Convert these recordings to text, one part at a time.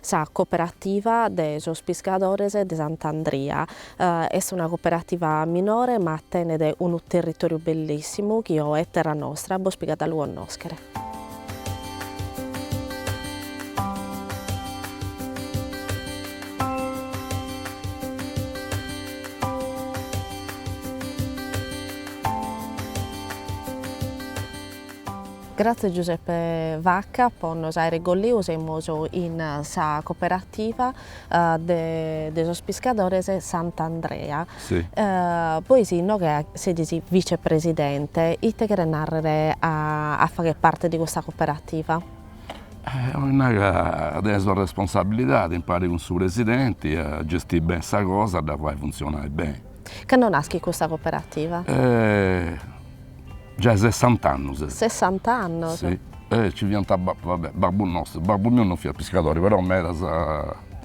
Sa Cooperativa de sos Piscadores de Sant'Andria est una cooperativa minore ma tenet unu territòriu bellìssimu chi oe Terra Nostra bos pigat a lu connòschere. Gratzias Giuseppe Vacca po nos aere golliu semus in sa cooperativa de sos piscadores Sant'Andrea bois inoghe sedis vice presidente ite cheret narrere a fagher parte de custa cooperativa? Oi nai ca tenesi una responsabilidade impari cun su presidenti a gestire bene sa cosa a dda fai funzionai bene. Cando naschit custa cooperativa? Giai sessant'annos est. Sessant'annos. Si. E ci fiant va bè babbu nostru, babbu miu non fiat piscadori, però medas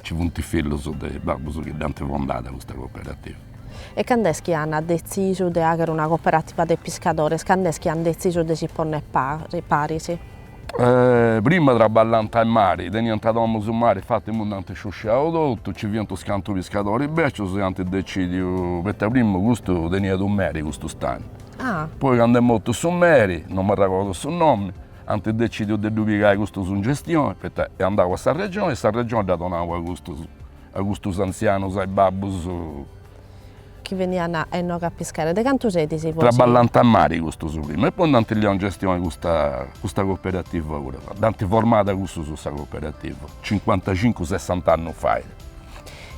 ci funt is fillus de babbus chi dd'ant fondada custa cooperativa. E cando est chi an detzisu de fagher una cooperativa de piscadores, cando est chi an detzisu de si ponner paris? Prima traballant in mari, teniant domus in mari, infati imui nd'ant sciusciau totu, ci fiant unus cantu piscadoris becius e ant decidiu, poita prima custu teniat u meri custu stagnu, Poi cando est mortu su meri, non m'arregordo su nomi, ant decìdiu de ddu pigai custus in gestioni, poita est andau a sa Regioni e sa Regioni dd'at donau a custus, a custus antzianus, a is babbus. Chi beniant a inoghe a piscare. De cantu sedis bois? Traballant a mari custus prima e poi nd'ant liau in gestioni custa, custa cooperativa puru. Dd'ant formada cussus sa cooperativa, cincuantacincu sessant'annus fait.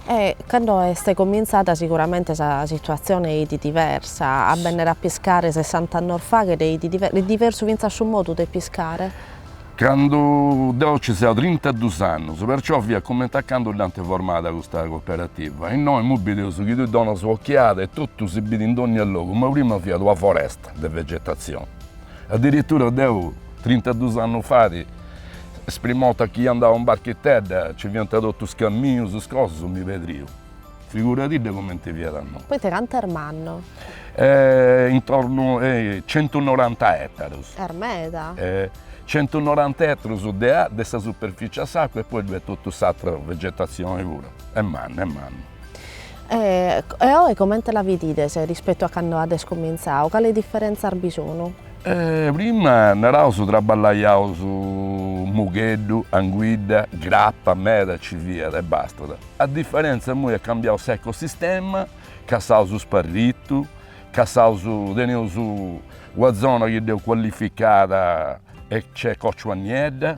E cando est comintzada siguramente sa situatzione 'eidi diversa, a bennere a piscare sessant'annos faghet 'eidi diversu, diversu fintzas su modu de piscare? Candu deu nci seu trintaduus annos, perciò fiat comente a cando dd'ant formada custa cooperativa, innoi imui bideus chi tui donas un'occhiada e totu si bidit in dònnia logu, ma prima fiat una foresta de vegetazzione, Addirittura deu, trintaduus annus fait, is prima 'orta chi andau in barchitedda, ci fiant totu is camminus, is cosas, mi pedriu. Figuradidda cumenti fiat a nosu. Poita cantu est mannu? Intornu a centunoranta etarus. Est meda. Centunoranta etarus de de sa superfici a s'acua e poi ddoi est totu s'atra vegetazzioni puru. Est mannu, est mannu. E oe comente la bidides rispettu a cando ades comintzadu, cale diferentzas bi sunu? Prima, naraus, traballaiaus mugheddu, anguidda, grapa, meda ci fiat e bastat. A diferentza imui est cambiau s'ecosistema, cassaus sparritu, cassaus teneus una zona chi dd'eus cuallificada e nc'est còciua niedda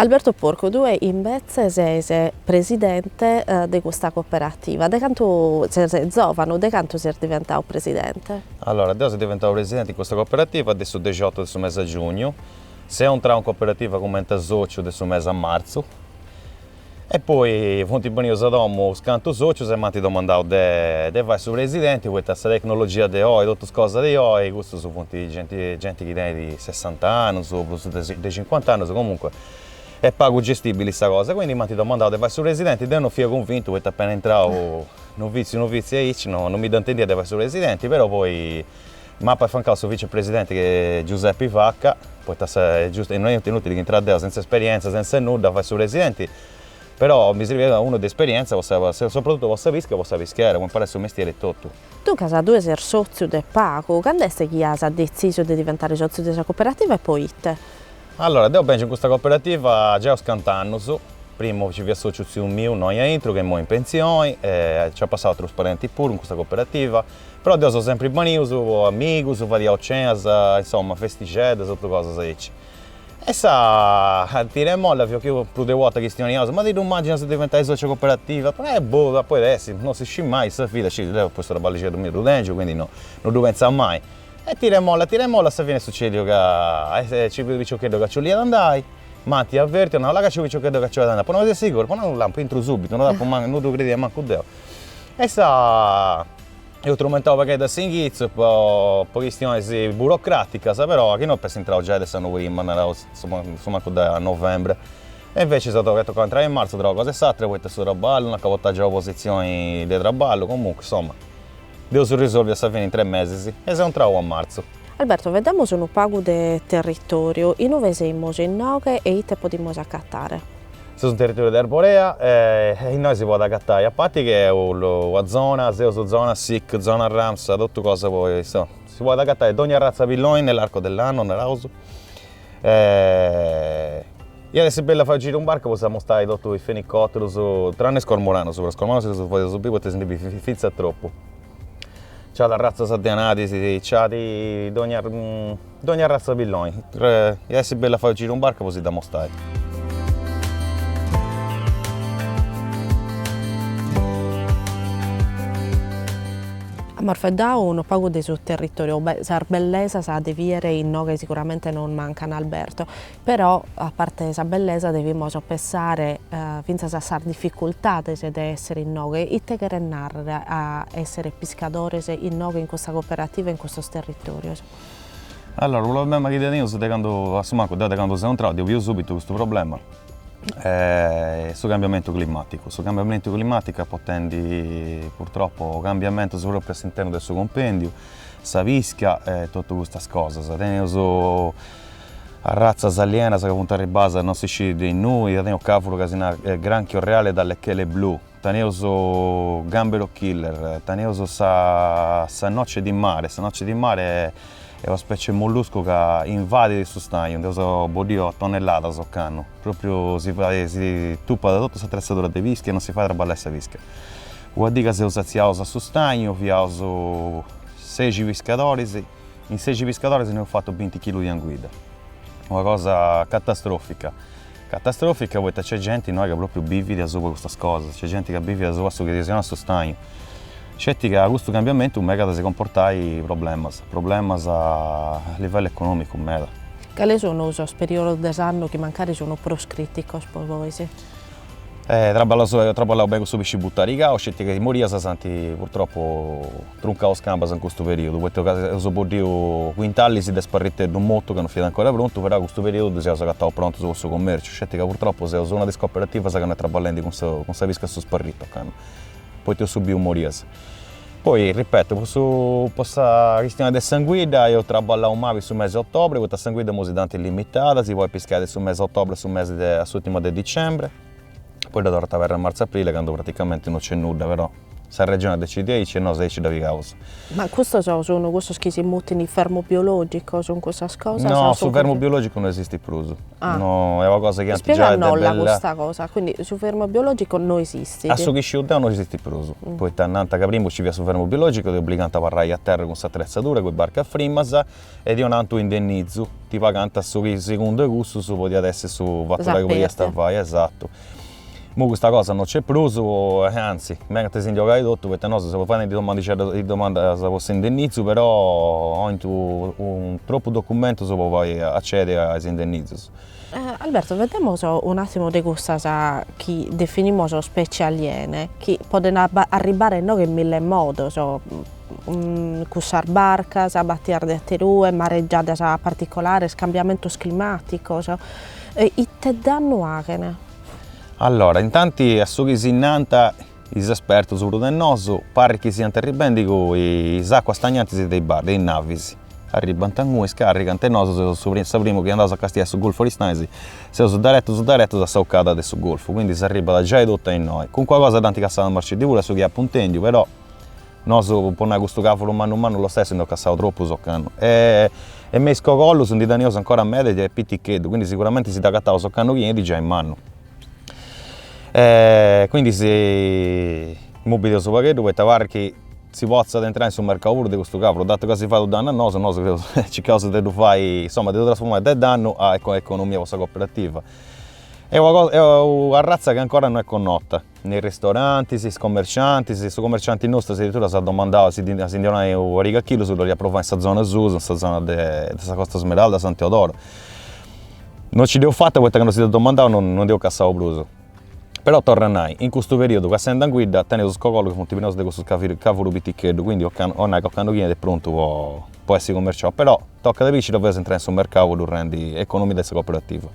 Alberto Porcu, Tue imbetze ses presidente de custa cooperativa, de cantu ses zòvanu, de cantu ses diventadu presidente? Allora, deo seu diventadu presidente in custa cooperativa de su dexiotu de su mese a giugnu, seu intrau in cooperativa cumenti a sòciu de su mese a martzu, E poi funt banius a domu is cantu sòcius e m'ant domandau de de fai su presidenti poita sa tecnologia de oi, totu is cosas de oi, custus funt genti genti chi tenit sessant'annus o prus de de cincuant'annus, comunque est pagu gestibili sa cosa, quindi m'ant domandau de fai su presidenti, deu non fia cunvintu poita appena intrau noviziu noviziu aici no no mi dda intendia de fai su presidenti, però poi M'apu affiancau su vicepresidenti chi est Giuseppi Vacca, poita est giustu e non est inutili chi intrà deu sentza esperientza, sentza nudda, a fai su presidenti, però mi sirviat unu de esperientza po sa soprattuttu po sa pisca e po sa pischera, po imparai su mestieri etotu. Duncas tue ses sotziu de pagu, cand'est chi as detzisu de diventare sotziu de sa cooperativa e poite? Allora, deu bengiu in custa cooperativa giai is cantu annus, primu nci fiat sociu tziu miu innoi aintru, ca immoi in penzioni, e nci at passau atrus parenti puru in custa cooperativa, Però deu seu sempri baniu, seus amigus, fadiaus cenas, insomma festixeddas, totu cosas aici. E sa tira e molla fiat chi prus de una 'orta chistioniaus, ma ti ddu immàginas de diventai sòciu 'e cooperativa? E boh, a podi essi, non si scit mai, sa vida, scit, deu custu traballixeddu miu ddu tengiu, quindi no no ddu pentzau mai. E tira e molla, tira e molla, a sa fini est sucediu ca nci fiat unu piciocheddu ca nci 'oliat andai, m'ant avertiu, at nau, là ca nc'est su piciocheddu ca nci 'olit andai, apu nau, ses siguru, apu nau, lampu, intru subitu, no dd'apu mancu, no ddu credia mancu deu E sa eus trumentau pagheddu a s'inghitzu po po chistionis burocràticas, però a chi no iap'essi intrau giai de s'annu prima, naraus assumancu de novembre, e inveci s'est tocau a intrai in martzu tra una cosa e s'atra poita su traballu, no acabu a tengi una positzioni de traballu, comunque insomma dd'eus risolviu a sa fini in tres mesis e seu intrau a martzu. Alberto, faeddemus unu pagu de territoriu, inue semus innoghe e ite podimus acatare? Seus in territòriu de Arborea e innoi si podit agatai a parti ch'est una zona, seus zona SIC, zona Ramsar, totu cosa po insoma, si podit agatai dogna arratza pilloni nell'arco dell'anno, naraus, iat essi bellu a fai u' giru in barca po s'ammustai totu is fenicotterus, tranne is cormoranus, però is cormoranus si ddus fadeus biri poita si ndi bidit finza tropu, ci at arratzas de anadis, ci at dogna Dogna arratza pilloni. Ia essi bellu a fai u giru in barca po si dd'amostai. Amus faeddau unu pagu de su territoriu, sas bellesas de biere inoghe siguramente non mancan Alberto, però a parte de sa bellesa devimus pensare finzas a sas difficultades de essere inoghe, ite cheret narrer a essere piscadores inoghe in custa cooperativa e in custos territorios? Allora su problema chi tenius de candu, a su mancu deu de candu seu intrau ddi biu subitu custu problema, su cambiamentu climaticu, su cambiamentu climaticu est portendi purtroppo cambiamentus propriu a s'internu de su cumpendiu, sa pischia e totu custas cosas, tenius arratzas alienas ca funt arribadas non si scit de innui, tenius cavuru ca si narat granchio reale dalle chele blu Teneus Gambero Killer, teneus sa sa noce di mare, sa noce di mare est una specie 'e molluscu ca invadit su stagnu, nd'eus boddiu a tonnelladas ocannu, pròpriu si fait si tupat totu s'atretzadura de pischia e non si fait a traballai sa pischia. Una dì ca seus sètzius a su stagnu fiaus sexi piscadoris, in sexi piscadoris nd'eus fatu binti chilus de anguidda, una cosa catastrofica Catastròfica poita nc'est genti innoi ca pròpriu bivit asuba a custas cosas, nc'est genti ca bivit asuba a su chi ddis 'onat su stagnu. Sceti ca custu cambiamentu megat a si comportai problemas, problemas a livellu econòmicu meda. Cale sunu sos periodos de s'annu chi mancari sunu prus crìticos po bois? Traballau beni cussu pisci butarigau, sceti ca is morias s'ant purtropu Truncaus cambas in custu perìodu, poita ca eus boddiu cuintalis de sparriteddu motu ca no fiat ancora prontu, però a custu perìodu ddus eus agataus prontus po su comèrciu, sceti ca purtropu seus una de is cooperativas ca no est traballendi cun sa cun sa pisca a su sparritu ocannu, poita eus subiu morias. Poi, ripeto, po su po sa chistioni de s'anguidda eus traballau mali in su mesi 'e otobri, poita s'anguidda imoi si dd'ant limitada, si podit piscai de su mesi 'e otobri a su mesi de a s'ùrtima de dicembri, poi dda torrant a aberri a martzu-aprile candu praticamenti no nc'est nudda, però Sa Regione decidit aici e nosu aici dda pigaus. Ma custos sun cussos chi si mutini fermu biologico, sun cussas cosas? No, su fermu biologico no esistit prus. Ah. No, est una cosa chi antis giai de bella. Ispieganosla custa cosa, quindi su fermu biologico no esistit. A su chi sciu deu no esistit prus, poita nant ca primu nci fiat su fermu biologico e ti obligant a abarrai a terra cun s'atretzadura, cun is barcas frimas e ti 'onant unu indennizu, ti pagant su chi segundu 'e cussus podiat essi su fatu chi podiast fai, esatu. Imoi custa cosa no nc'est prus e anzi megant si ndi 'ogai totu poita nosu seus faendi domandas de domandas po s'indennizu però oint tropu documentus po fai accediri a is indennizus. Alberto, faeddemos un'attimo de cussas chi definimos specie aliene chi podent arribare innoghe in mille modos, cun sas barcas, batias de aterue, mareggiadas particolares, cambiamentos climaticos, ite dannu aghent? Allora, intanti a su chi si nant is espertus prus de nosu, parrit chi siant arribendi cun is acuas stagnantis de is de is navis, arribant inguni, scarrigant e nosu seus su sa primu chi andaus a castiai su golfu de Oristanis, seus deretus deretus a sa 'ucada de su golfu, quindi s'arribat giai totu a innoi, calincuna cosa dd'ant cassada a Marceddì puru a su chi apu intendiu, però Nosu, po nai custu cavuru mannu mannu lo stessu nd'eus cassau troppus occannu e e me is cogollus ndi tenius ancora meda de piticheddu, quindi siguramenti si dd'agattaus occannu chi enit giai mannu. E quindi si imui bidius u' pagheddu poita aparrit chi si potzat intrai in su mercau puru de custu cavuru, datu ca si fait u' dannu a nosu, nosu seus circaus de ddu fai, insoma de ddu trasformai de dannu a economia po sa cooperativa. Est una cosa est u' arratza chi ancora no est connota in is ristorantis, is commerciantis, su commercianti nostru addirittura s'at domandau si ddi si ndi 'onai u' pariga 'e chillus po dd'olia provai in sa zona susu, in sa zona de sa Costa Smeralda, San Teodoro. Non ci dd'eus fata poita candu si dd'at domandau, non ndi eus cassau prus. Però torru a nai, in custu periudu cassend'anguidda teneus is cogollus chi funt prenus de custu cavuru piticheddu, quindi ocannu, 'onai ca ocannu chi enit est prontu po po essi cummerciau, però tocat a bi ci dda faeus a intrai in su mercau po ddu rendi economia de sa cooperativa.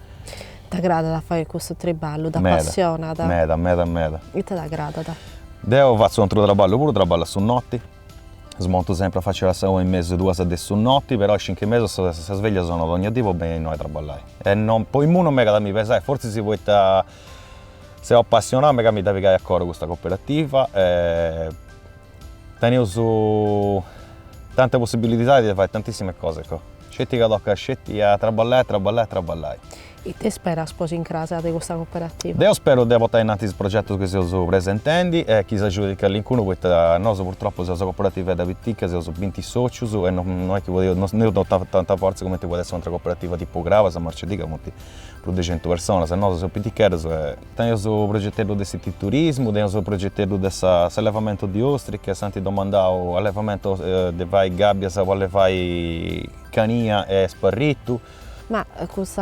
T'agradat a fagher custu triballu? T'apassionat? Meda, meda, meda. Ite t'agradat? Deu fatzu u' atru traballu puru, traballu a su noti, smontu sempri a faci a sa una e mesu, duas de su noti, però a is cincu 'e mesu sa sa sveglia sonat dogna dì po benni a innoi a traballai e no po imui non m'egat a mi pesai, fortzis poita seu apassionau m'egat a mi dda pigai a coru custa cooperativa e teneus tanta possibilidadi de fai tantissime cose Sceti ca tocat sceti a traballai, a traballai, a traballai. Ite speras po s'incras de custa cooperativa? Deu speru de portai innanti is progetus chi seus presentendi e chi s'agiudit calincunu poita nosu purtropu seus una cooperativedda pitica, seus binti sotzius e no est chi podeus, no teneus tanta fortza cumenti podit essi u' atra cooperativa tipu Crabas, Marceddì ca funt prus de centu personas e nosu seus piticheddus e tenius su progeteddu de s'ititurismu, tenius su progeteddu de s'allevamentu de ostriche, s'ant domandau allevamentu de fai gabbias po allevai cania e sparritu. Ma custu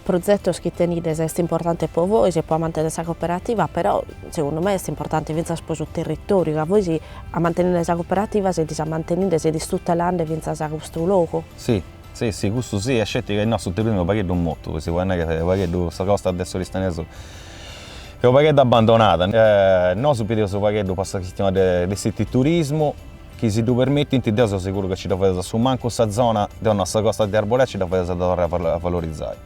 progetu chi tenidis est importanti po vois, po amantenni sa cooperativa, però segundu mei est importanti fintzas po su territoriu, ca vois amanteninde sa cooperativa sidis amanteninde, sidis tutelande fintzas custu logu. Si, Si, si, cussu si, e sceti ca innoi su turismu est unu pagheddu motu, si podit nai ca pagheddu sa costa de s'Oristanesu est unu pagheddu abbandonada, nosu bideus unu pagheddu po sa chistioni de de s'ititurismu, chi si ddu permitint deu seu seguru ca nci dda fadeus a su mancu sa zona, deu nau sa costa de Arborea nci dda fadeus a dda torrai a valorizai,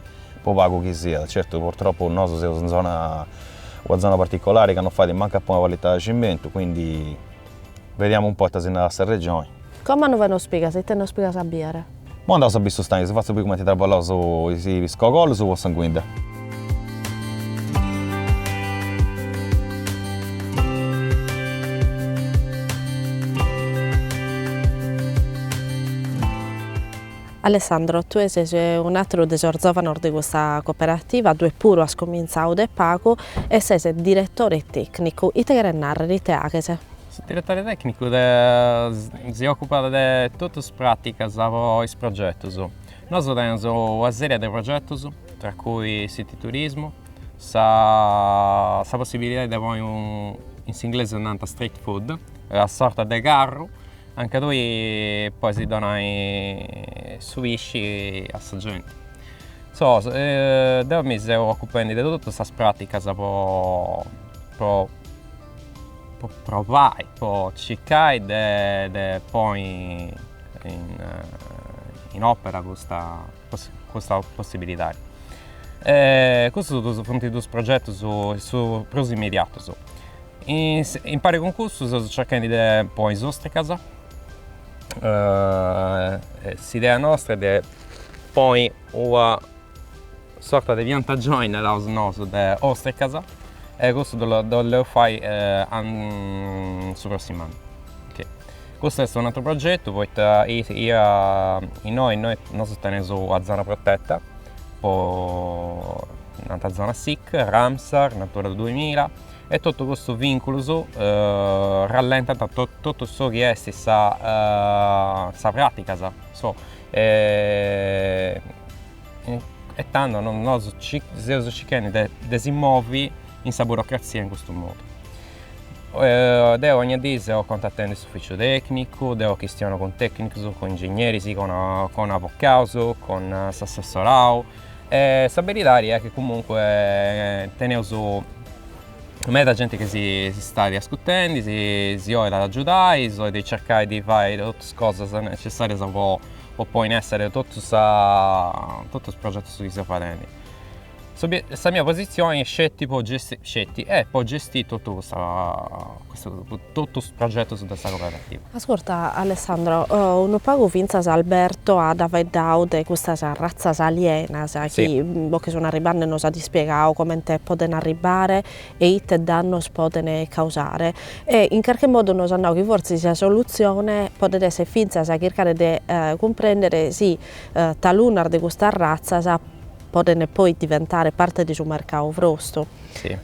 po pagu chi siat, certu purtroppu nosu seus in zona una zona particolari ca non fait mancu a ponni una palitada de cimentu, quindi Vediamo un po' ita si narat sa Regioni. Como a inue nos pigas, ite nos pigas a biere. Mo andaus a bi su stagnu si fatzu bi cumenti traballaus is cogollus po s'anguidda. Alessandro, tue ses un'àteru de sos zòvanos de custa cooperativa, tue puru as cumintzau de pagu e ses diretore tècnicu, ite cheret nàrrere, ite aghes? Su diretore tècnicu si òcupat de totu is pràticas pro is progetus. Nosu teneus una sèrie de progetus, tra cui s'ititurismu, sa sa possibilidade de poi, in s'inglesu nant street food, una sorta de carru anca tui pois donai su pisci a sa genti. So, deu mi seu ocupendi de totus sas praticas po po provai, po circai de poi in opera custa custa possibilidade. Custus funt duus progetus prus immediatus. In pari cun custu seus cerchendi de poi is ostricas, s'idea nostra est de ponni una sorta de piantagioni, naraus nosu, de ostricas e custu dd'oleus fai su prossimu annu Custu est un'atru progetu poita innoi innoi nosu teneus una zona protetta po nant zona sic, Ramsar, Natura duimilla e totu custus vinculus rallentant totu su chi est sa sa pratica so E tando nosu seus circhendi de de si movi in sa burocrazia in custu modu. Deu ogna dì seu contatendi s'ufficiu tecnicu, deu chistionu cun tecnicus, cun ingegneris, cun cun avocaus, cun s'assessorau e sa beridadi est chi comunque teneus meda genti chi si stait ascurtendi, si 'olit agiudai, si 'olit circai de fai totus is cosas necessarias po po poi in essere totu sa totu is progetus chi seu fadendi. Sa mia posizioni est sceti po sceti est po gestì totu custa custu totus is progetus de sa cooperativa. Ascurta Alessandro, unu pagu fintzas Alberto at faeddau de custas ratzas alienas chi bos che sun arribbende, nos at ispiegau comente podent arribbare e ite dannos poden causare e in carche modu nos at nau chi fortzis sa solutzione podet esser fintzas a chircare de cumprender si talunas de custas ratzas poden poi diventare parte de su mercadu bostru,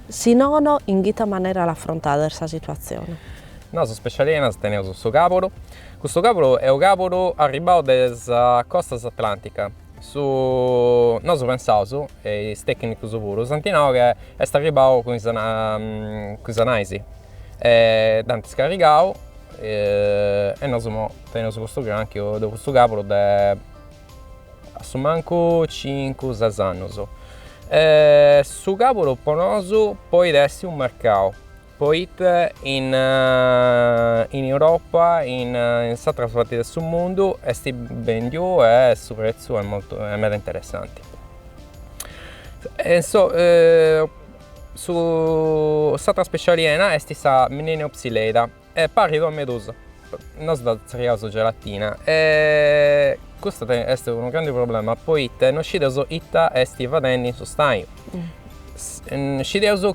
si nono in ite manera l'affrontades sa situatzione? Nosu specie alienas teneus su caburu, custu caburu est u' caburu arribbau de sa costa atlantica Su nosu pensaus, e is tècnicus puru, s'anti nau ca est arribau cun is cun is nais e dd'ant scarrigau e nosu imoi teneus custu grànchiu, ddoi custu càburu de a su mancu cincu ses annus. Su càburu po nosu podit essi unu mercau Poita in in Europa in in s'atras parti de su mundu esti bendiu e su prezzu est molto est meda interessanti. E in so su s'atra spècia aliena esti sa Mnemiopsis leidyi e parrit una medusa nosu dda zerriaus gelatina e custa est unu grandi problema poita no scideus ita esti fadendi in su stagnu. Scideus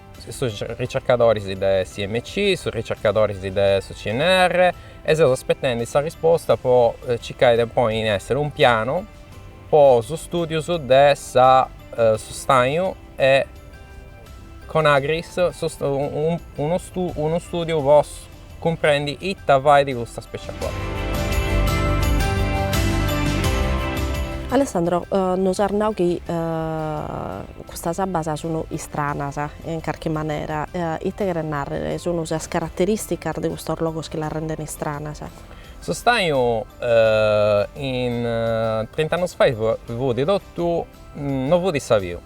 sos ricercadoris de s'IMC, sos ricercadoris de su CNR e seus aspetendi sa risposta pro circai de ponni in essere un pianu pro su studiu de su stagnu e cun Agris unu studiu pro Cumprendi ita fai di custa specia qua. Alessandro, nos as nau chi custas abbas sunu istranas in carchi manera, ite cheret narrer, sunu sas carateristicas de custos logos chi las renden istranas? Su stagnu in trint'annus fai fut totu, no fut sabiu,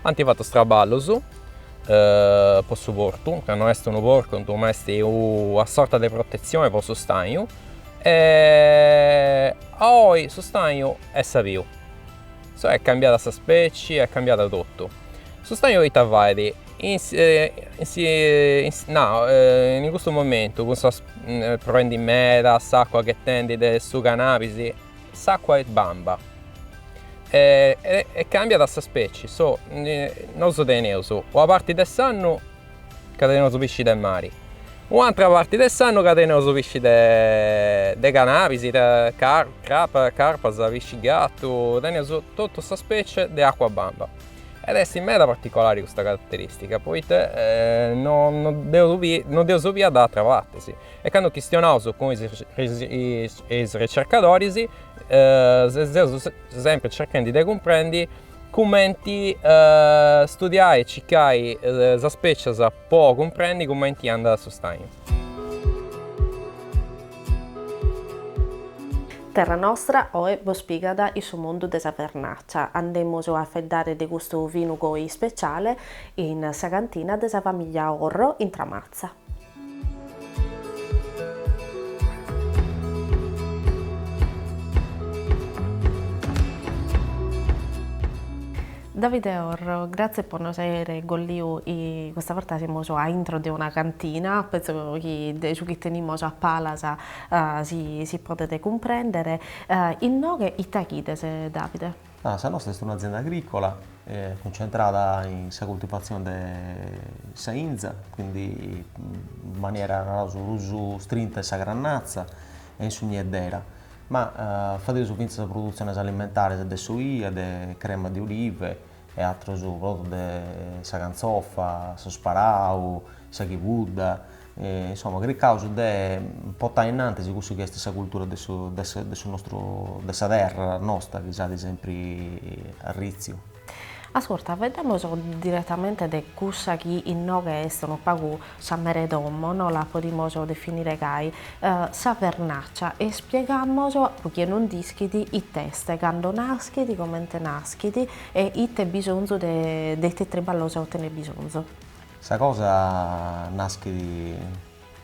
Ant fatu is traballus po su portu, ca no est unu portu ma est una sorta de protetzione po su stagnu e a oi su stagnu est sabiu, cioè est cambiada sa specie, est cambiadu totu. Su stagnu ita fait, nau, in custu momentu cun sos, proendi meda s'acua ghetendi de su canabis s'acqua est bamba e e cambiat sa specie, so nosu teneus una parti de s'annu ca teneus pisci de mari, un'atra parti de s'annu ca teneus pisci de de canabis, de carpa, carpas, pisci gatu, teneus totu sa specie de acqua bamba ed est meda particolari custa carateristica, poita no no dd'eus no dd'eus bia de ateras partis E cando chistionaus cun is ricercadoris seus sempri cerchendi de cumprendi cumenti studiai e cicai sa spècias po cumprendi cumenti andat su stagnu. Terra Nostra oe bos pigat in su mundu de sa vernàcia. Andemus a feddare de custu vinu goi ispeciale in sa cantina de sa famiglia Orro in Tramatza. Davide Orro, grazie po nos aere golliu, custa borta semus a intro de una cantina, penso chi de su chi tenimus a palas si podet cumprendere, innoghe ita faghides Davide? Sa nosta est un'azienda agricola cuncentrada in sa cultivazione de sa inza, quindi in maniera naraus prus strinta in sa grannatza e in su nieddera, ma fadeus fintzas produtziones alimentares de s'olia, de crema de olive e atrus prodotus de sa cantzofa, su sparau, sa chibudda insoma, cricaus de portai innantis cussu chi est sa cultura de su nostru de sa terra nosta chi s'at sempri arriciu. Ascurta, faeddemus diretamente de cussa chi inoghe est unu pagu sa mere 'e domo, no la podimus definire gai, sa vernaccia, e spiegamus, pro chie non nd'ischit, it'est, cando naschit, comente naschit e ite bisonzu de de ite triballos tenet bisonzu. Sa cosa naschit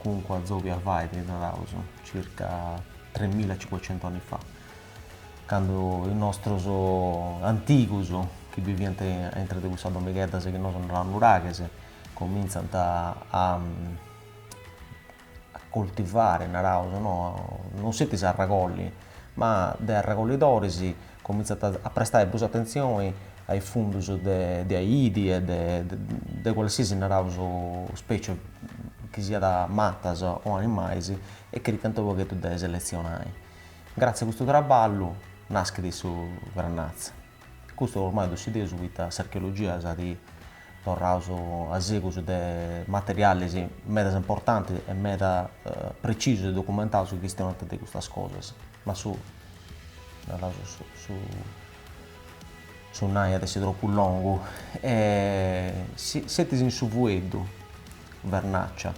comunque a s'époi a fait, naraus, circa tremila e cincuecentu anni fa, candu is nostrus antigus, chi biviant aintra de cussas domigheddas chi nosu naraus nuraghes, comintzant a a coltivare, naraus, no non sceti a arregolli, ma de arregollidoris comintzant a prestai prus atentzioni a is fundus de aidi e de de cualsiasi, naraus, specie chi siat matas o animais e cricant unu pagheddu de seletzionai. Grazie a custu traballu naschit su Grannazza. Custu ormai ddu scideus poita s'archeologia s'at torrau a segus de materialis medas importantis e meda precisus e documentaus chi chistionant de custas cosas. Ma su nai at essi tropu longu. Setis in su fueddu, Vernaccia,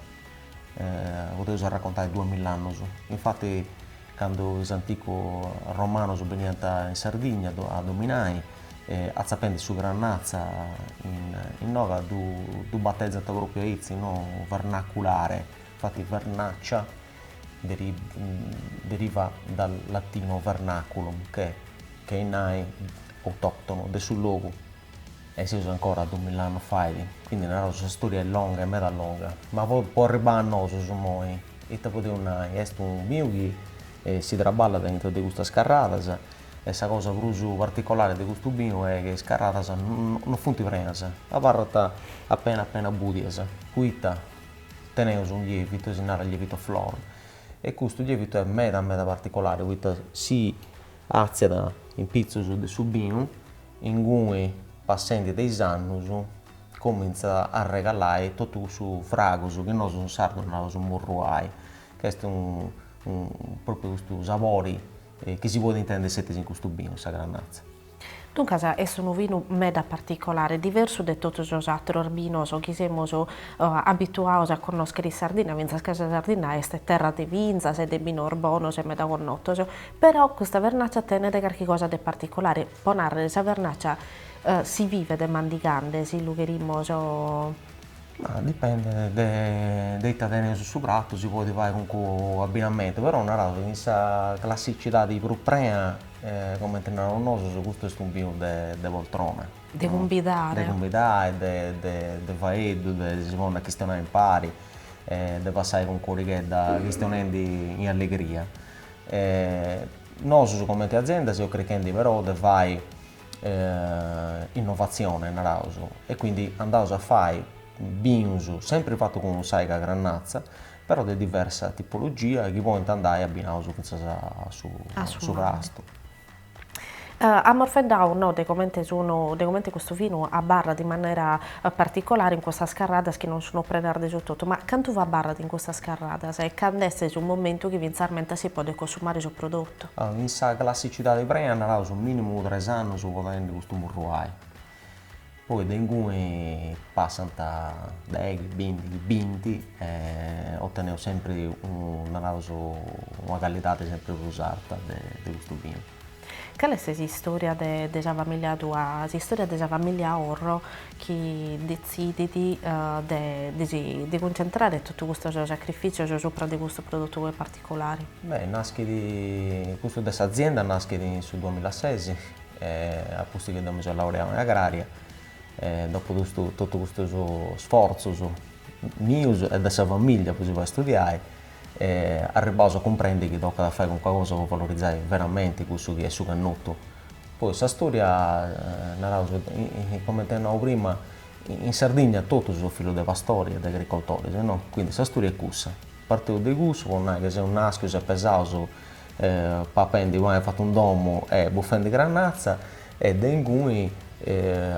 podeus arracontai duamill'annus. Infati Candu is anticu romanus beniant in Sardigna a dominai, atzapendi su Grannazza innoga ddu batezant propriu aici, no vernaculare, infati vernaccia deriva dal latino vernaculum che est nai autoctonu de su logu. E seus ancora a dumill'annu fait, quindi naraus sa storia est longa e meda longa, ma po arribai a nosus immoi, ite podeus nai, est unu biu chi si traballat aintru de custas carradas e sa cosa prus particolari de custu biu est chi is carradas no funt prenas, abarrant apena apena bùdias, poita teneus unu lievitu, si narat lievitu a flor, e custu lievitu est meda meda particolari, poita si Àtziat in pitzus de su binu, ingui passendi de is annus cumintzat a arregalai totu cussu fragus chi nosu in sardu naus murruai, ca est propriu cussu sabori chi si podit intendi sceti in custu binu, sa grannatza. Duncas est unu binu meda particolari, diversu de totus sos atrus binos chi semus abituaus a connoschiri in Sardinna, fintzas ca sa Sardinna est terra de bintzas e de binos bonos e meda connotus, Però custa vernàcia tenet carchi cosa de particolare, pro nàrrere sa vernàcia si bibet mandigande, si lu cherimus. Ma dipendet de ita teneus in su pratu, si podit fai calincunu abbinamentu, però naraus in sa classicidade prus prea, comente naraus nosus, custu est unu binu de poltrona. De cumbidare. De cumbidare, de faeddu, de si ponni a chistionai impari, de passai calincunu orighedda chistionendi in allegria. Nosus comente azienda seus chirchendi però de fai innovatzione, naraus, e quindi andaus a fai binus, sempri fatu cun s'àghina grannatza, però de diversa tipologia chi podint andai abbinaus fintzas a su pastu. Amus faeddadu no de comente sun de comente custu vinu abarrat in manera particolare in custas carradas chi non sun prenas de su totu, ma cantu abarrat in custas carradas e cando est su momentu chi fintzamentas si podet consumare su prodotu? In sa classicidade prea, naraus minimu tres annus po tenni custu murruai. Poi de inguni passant deghi, bìndighi, binti e oteneus sempri, naraus, una callidadi sempri prus arta de custu binu. Cale est s'istòria de sa famìllia tua? S'istòria de sa famìllia Orro chi detzidit de cuntzentrare totus custos sacrifìtzios subra de custu produtu particolare? Beh, naschit, custu de s'azienda naschit in su duamilla e ses, a pustis chi deu mi so laureau in agraria e dopu totu custus sforzus mius e de sa familia po si fai studiai arribbaus a cumprendi chi tocat a fai calincuna cosa po valorizai veramenti cussu chi est su connotu. Poi sa storia naraus cumenti nau prima in Sardigna totus seus fillus de pastori e de agricoltoris no, quindi sa storia est cussa, parteus de cussu po nai ca seus naschius e pesaus papendi pani fatu in domu e bufendi grannatza e de inguni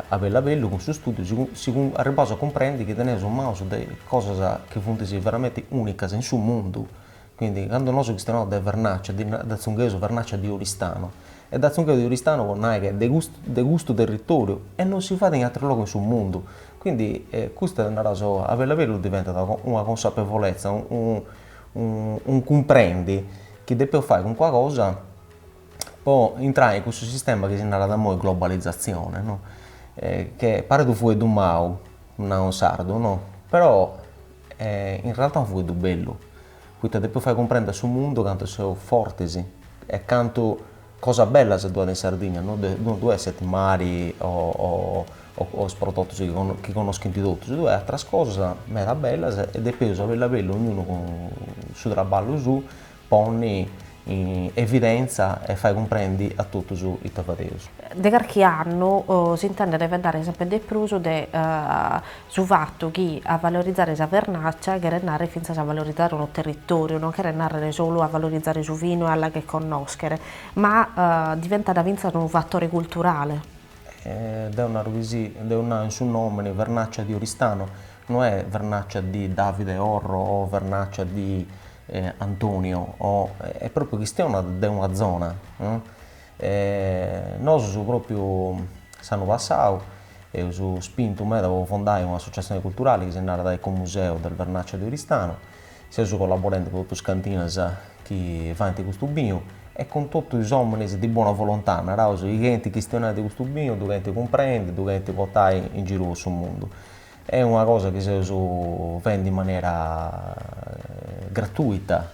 a bellu a bellu cun su studiu seus arribbaus a cumprendi chi teneus in manus de cosas chi funt veramenti unicas in su mundu, quindi candu nosu chistionaus de Vernaccia dd'atzungheus Vernaccia di Oristano e dd'atzungheus di Oristano po nai che de custu de custu territoriu e non si fait in ateru logu in su mundu, quindi custa naraus oe a bellu a bellu diventat una consapevolezza unu cumprendi chi depeus fai calincuna cosa po intrai in cussu sistema chi si narat imoi globalizatzione no che paret unu fueddu mau nau in sardu no però in realtà est unu fueddu bellu poita depeus fai cumprendi a su mundu cantu seus fortis e cantu Cosas bellas ddu at in Sardigna, no ddu esset mari o is prodotus chi connoschint totus, ddu at atras cosas meda bellas e depeus a bellu a bellu ognunu cun su traballu suu ponni in evidentza e fai cumprendi a totus ita fadeus. De carchi annu s'intendet faeddare sempri de prus de Su fatu chi a valorizare sa vernàcia cheret nàrrere fintzas a valorizare unu territòriu non cheret nàrrere solu a valorizare su vinu e a la 'agher connòschere, ma diventat fintzas unu fatore culturale. Deo naro si, deo nau in su nòmene vernàcia di Oristano, no est vernàcia di Davide Orro o vernàcia di Antonio o, est pròpriu chistionat de una zona. E nosus propriu s'annu passau eus spintu meda po fondai una associazione culturale chi si narat Ecomuseo del Vernaccia di Oristano. Seus collaborendi cun totu is cantinas chi faint custu binu e cun totu is ominis di buona volontà, naraus, chi chenint chistionai de custu binu, ddu chenint cumprendi, ddu chenint portai in giru po su mundu. Est una cosa chi seus fendi in manera gratuita,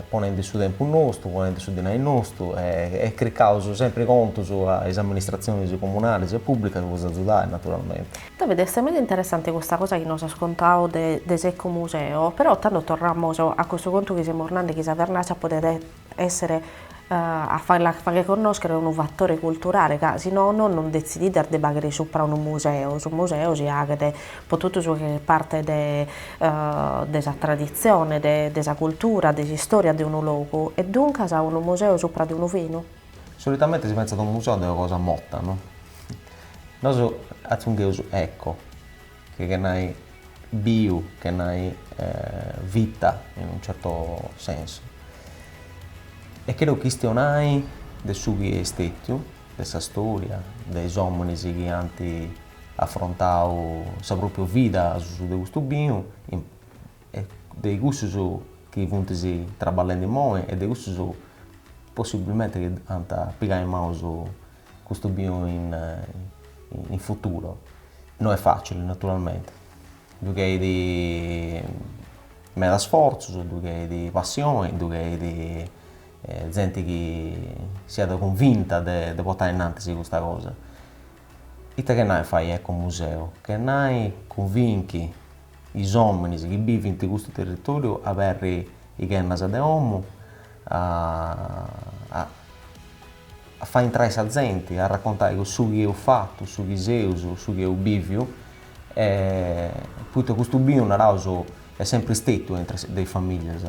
ponendi su tempus nostu, ponendi su dinai nostu e cricaus sempri contus a is amministratzionis comunalis e pùblicas po s'atzudai naturalmenti. Davide, est meda interessanti custa cosa chi nos as contau de s'ecomuseo, però tando torramus a custu contu chi semus nandi chi sa vernàcia podet essere a fagher connòschere unu fatore culturale ca si nono non detzidias de faghere supra unu museu, su museu si aghet pro totu su chi faghet parte de de sa traditzione, de de sa cultura, de s'istòria de unu logu e duncas unu museu supra de unu vinu? Solitamente si pentzat a unu museu de una cosa morta no? Nosu atzungheus eco Che che nai biu che nai vita in unu certo sensu. E chero chistionai de su chi est stetiu, de sa storia, de is ominis chi ant afrontau sa propria vida a susu de custu biu e de cussus chi funt traballendi immoi e de cussus possibbilmenti chi ant pigai in manu su Custu biu in in futuro. No est facile naturalmente, ddu cheridi meda sforzus, ddu cheridi passioni, ddu cheridi zenti chi siat cunvinta de de portai innantis custa cosa. Ita che nai fai ecomuseu, che nai cunvinchi is ominis chi bivint custu territoriu a aberri i ghennas de omu a A fai intrai sa zenti, a arracontai su chi eus fatu, su chi seus, su chi eus bìviu. E poita custu binu, naraus, est sempri stetiu intru de is famìllias,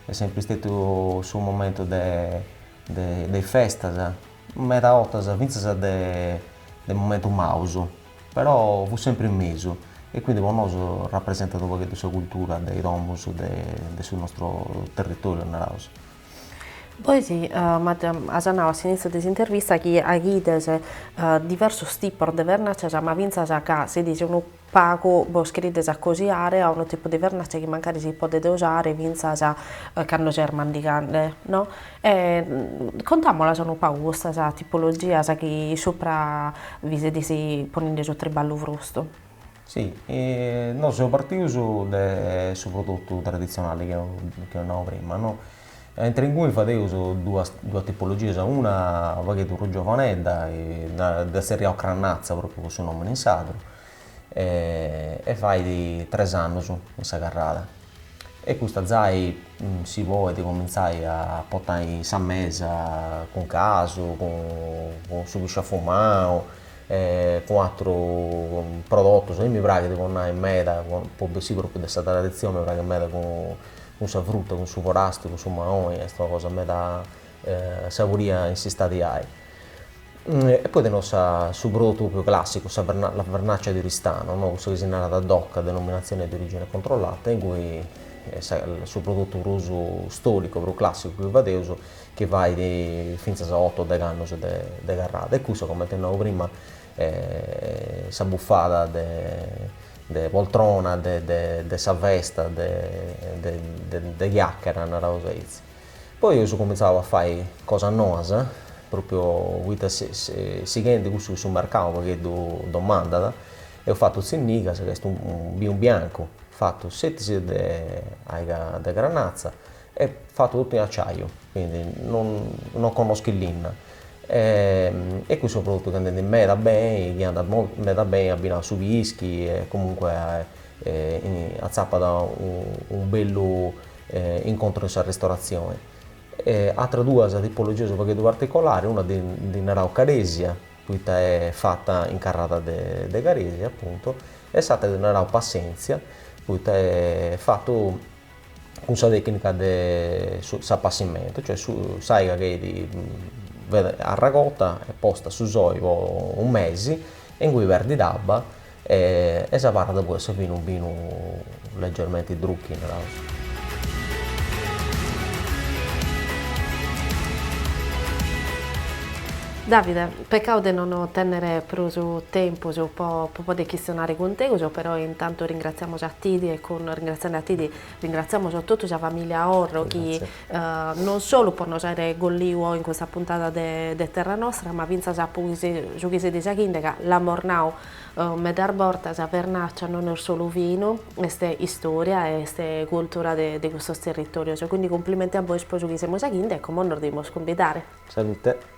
est sempri stetiu su momentu de de de is festas, meda 'otas fintzas de de momentus maus, però fut sempri in mesu. E quindi po nosu rapresentat u' pagheddu sa cultura de i domus de de su nostru territoriu, naraus. Pois as nau a s'initziu de s'intervista chi aghides diversos tipos de vernàcias ma fintzas ca sedes unu pagu bos cherides acosiare a unu tipu de vernàcia chi mancari si podet usare fintzas cando ses mandigande no? E contamolas unu pagu custas tipologias chi supra bi sedes ponende su triballu brostu Si, nosu seus partius de su prodotu traditzionali chi eus nau prima no, e intre inguni fadeus duas duas tipologias, una unu pagheddu prus giovanedda dda zerriaus crannatza propriu po su nomini in sardu e fait tres annus in sa carrada e custa zai si podit comintzai a potai in sa mesa cun casu cun su pisciu afumau e cun atru prodotus, a mì mi praghit po nai meda, po bessì propriu de sa traditzioni, mi praghit meda cun sa fruta, cun su forastiu, cun su maoni, est una cosa meda saburia in s'istadiai. E poi teneus su prodotu propriu classicu, sa la vernaccia di Oristano, no, cussa chi si narat DOC, denominazione di origine controllata, ingui su prodotu prus storicu, prus classicu chi fadeus chi bait fintzas a oto o deghe annos de carrada e cussa, comente nau prima, sa bufada de poltrona de sa festa, de chiacchera, naraus aici. Poi eus cumintzau a fai cosas noas, propriu po bai sighendi cussu chi su mercau unu pagheddu domandat, eus fatu tzinnigas, ca est unu binu biancu fatu scetis de aiga de granatza Est fatu totu in aciaju, quindi non connoschit linna e cust'est unu prodotu ch'est andendi meda beni, chi andat meda beni abbinau a su pischi e comunque atzappat unu bellu incontru in sa ristoratzioni. Ateras duas tipologias unu pagheddu particolaris, una ndi narau caresia, poita est fata in carrada de caresia apuntu, e s'atera ndi narau passentzia, poita est fatu cun sa tècnica de s'apassimentu, cioè s'aiga ch'est arragota e posta a su soli po unu mesi e ingui perdit abba e s'abarrat po essi unu binu leggermenti drucchi, naraus. Davide, Pecau de non tennere prus tempus po podi chistionare cun teus, però intantu ringratziamus a tidi e cun ringratziende a tidi ringratziamus totu sa familia Orro chi non solu po nos aere arregolliu oi in custa puntada de de Terra Nostra ma fintzas po su chi seis faghinde ca l'amus nau medas bortas, sa Vernaccia non est solu vinu, est istoria e est cultura de de custos territorios, quindi cumplimenti a bois po su chi seis faghinde e como nos devimus cumbidare. Salute.